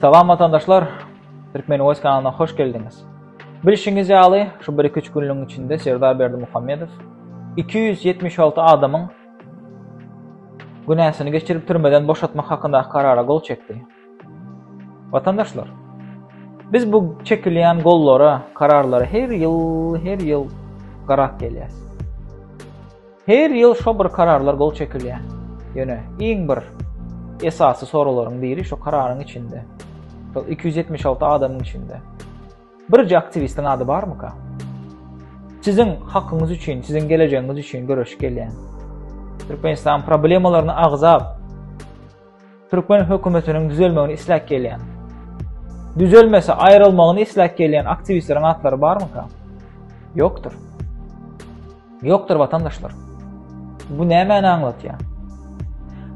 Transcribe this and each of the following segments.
Salam watandaşlar, Türkmen Voice kanalyna hoş geldiňiz. Bilşiňiz ýaly, şu 1-2 günlügiň içinde Serdar Berdi Muhammedow 276 adamyň günäsini geçirip türmeden boşatmak hakynda karara gol çekdi. Watandaşlar, biz bu çekilýän gollara, kararlara her ýyl, her ýyl garak gelýäs. Her ýyl şo bir kararlar gol çekilýär. Ýöne iň bir esasy soraglaryň biri şo kararyň içinde, şol iki ýüz ýetmiş alty adamyň içinde birje aktiwistiň ady barmyka? Siziň hakyňyz üçin, siziň gelejegiňiz üçin göreşip gelýän, Türkmenistanyň problemalaryny agzap, Türkmen hökümetiniň düzelmegini isläp gelýän, düzelmese aýrylmagyny isläp gelýän aktiwistleriň atlary barmyka? Ýokdur. Ýokdur watandaşlar. Bu nämäni aňlatýar?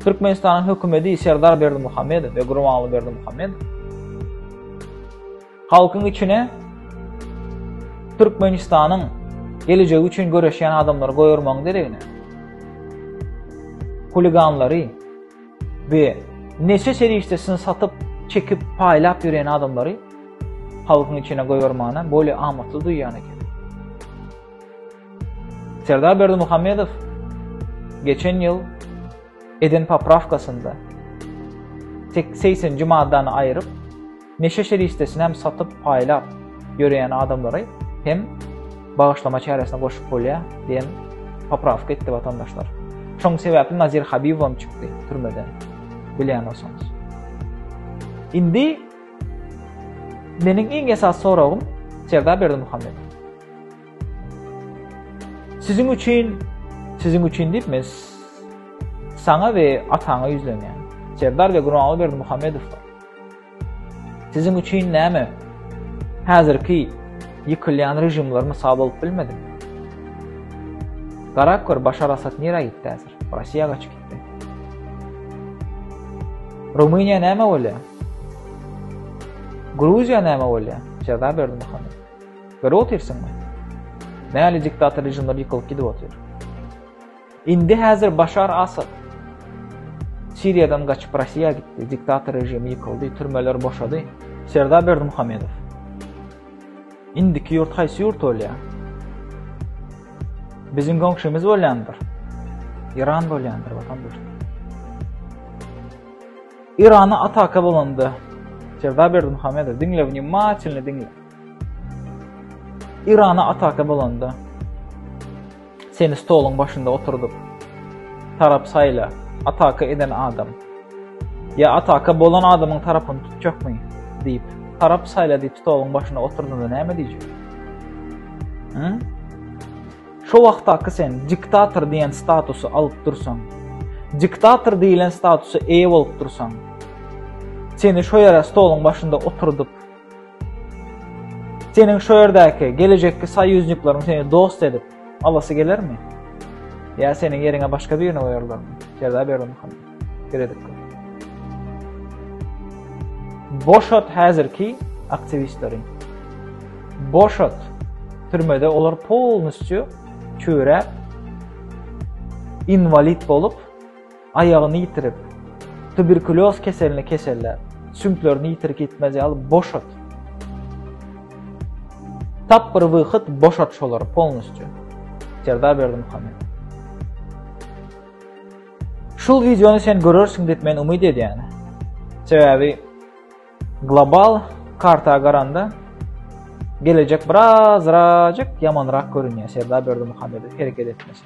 Türkmenistanyň hökümeti Serdar Berdimuhamedow we Gurbanguly Berdimuhamedow Halkyň içine Türkmenistanyň gelejegi üçin göreşýän adamlary goýurmagyň deregine huliganlary we neçe serişdesini satyp, çekip, paýlap ýören adamlary halkyň içine goýurmagyna bolýa amatly duýýan eken. Serdar Berdi Muhammedow geçen ýyl eden poprawkasynda 80-nji maddany aýryp Neşe serişdesini hem satyp, paýlap ýöreýän adamlary hem bagyşlama çäresine goşup bolýar diýen poprawka etdi watandaşlar. Şoň sebäpli Nazir Habibowam çykdy türmeden. Bilýän bolsaňyz. Indi meniň iň esas soragym Serdar Berdimuhamedow. Siziň üçin, siziň üçin diýip men saňa we ataňa ýüzlenýän. Serdar we Gurbanguly Berdimuhamedow Siziň üçin näme? Häzirki ýykylýan režimler mysal bolup bilmedimi? Garap gör, Başar Asad nirä gitdi häzir? Russiýa gaçyp gitdi. Rumyniýa näme bolýar? Gruziýa näme bolýar? Jeza berdi Muhammed. Görüp otyrsyňmy? Näli diktator režimler ýykylyp gidip otyr. Indi häzir Başar Asad Siriýadan gaçyp Rossiýa gitdi, diktator režimi ýykyldy, türmeler boşady. Serdar Berdimuhamedow. Indiki ýurt haýsy ýurt bolýar? Biziň goňşymyz bolýandyr. Iran bolýandyr watandaş. Irana ataka bolanda Serdar Berdimuhamedow diňle wnimatilni diňle. Irana ataka bolanda seni stoluň başynda oturdup tarap saýla ataka eden adam ýa ataka bolan adamyň tarapyny tutjakmy diýip tarap saýla diýip stoluň başyna oturdanda näme diýjek şo wagtdaky sen diktator diýen statusy alyp dursaň diktator diýilen statusa eýe bolup dursaň seni şo ýere stoluň başynda oturdup Seniň şu ýerdäki gelejekki soýuznikleriň seni dost edip alasy gelermi? Ýa seniň ýeriňe başga birini goýarlarmy? Jeza berdim hany. Geredip. Boşat häzirki aktiwistleri. Boşat türmede olar polnusçu çöre invalid bolup Aýagyny ýitirip, tuberkulýoz keseline keseller, süňklerini ýitirik ýitmez ýaly boşat. Tap bir wyhyt boşat şolary polnusçu. Serdar Berdimuhamedow. Şul wideony sen görersiň diýip men umyt edýän. Sebäbi global karta garanda gelecek birazrajyk ýamanrak görünýär Serdar Berdimuhamedow hereket etmese.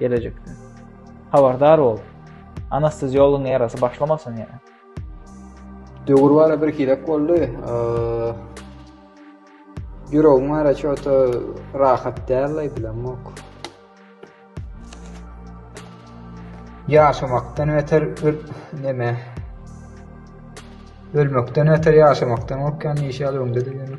Gelejekde. Habardar bol. Anesteziologyň erasy başlamasyn ýene. Döwür bana bir hilek boldy. Ýüregim ara çota rahat däl bilemok. Ýaşamakdan beter bir neme. Ölmekden beter ýaşamakdan gorkýan işe alymda diýen.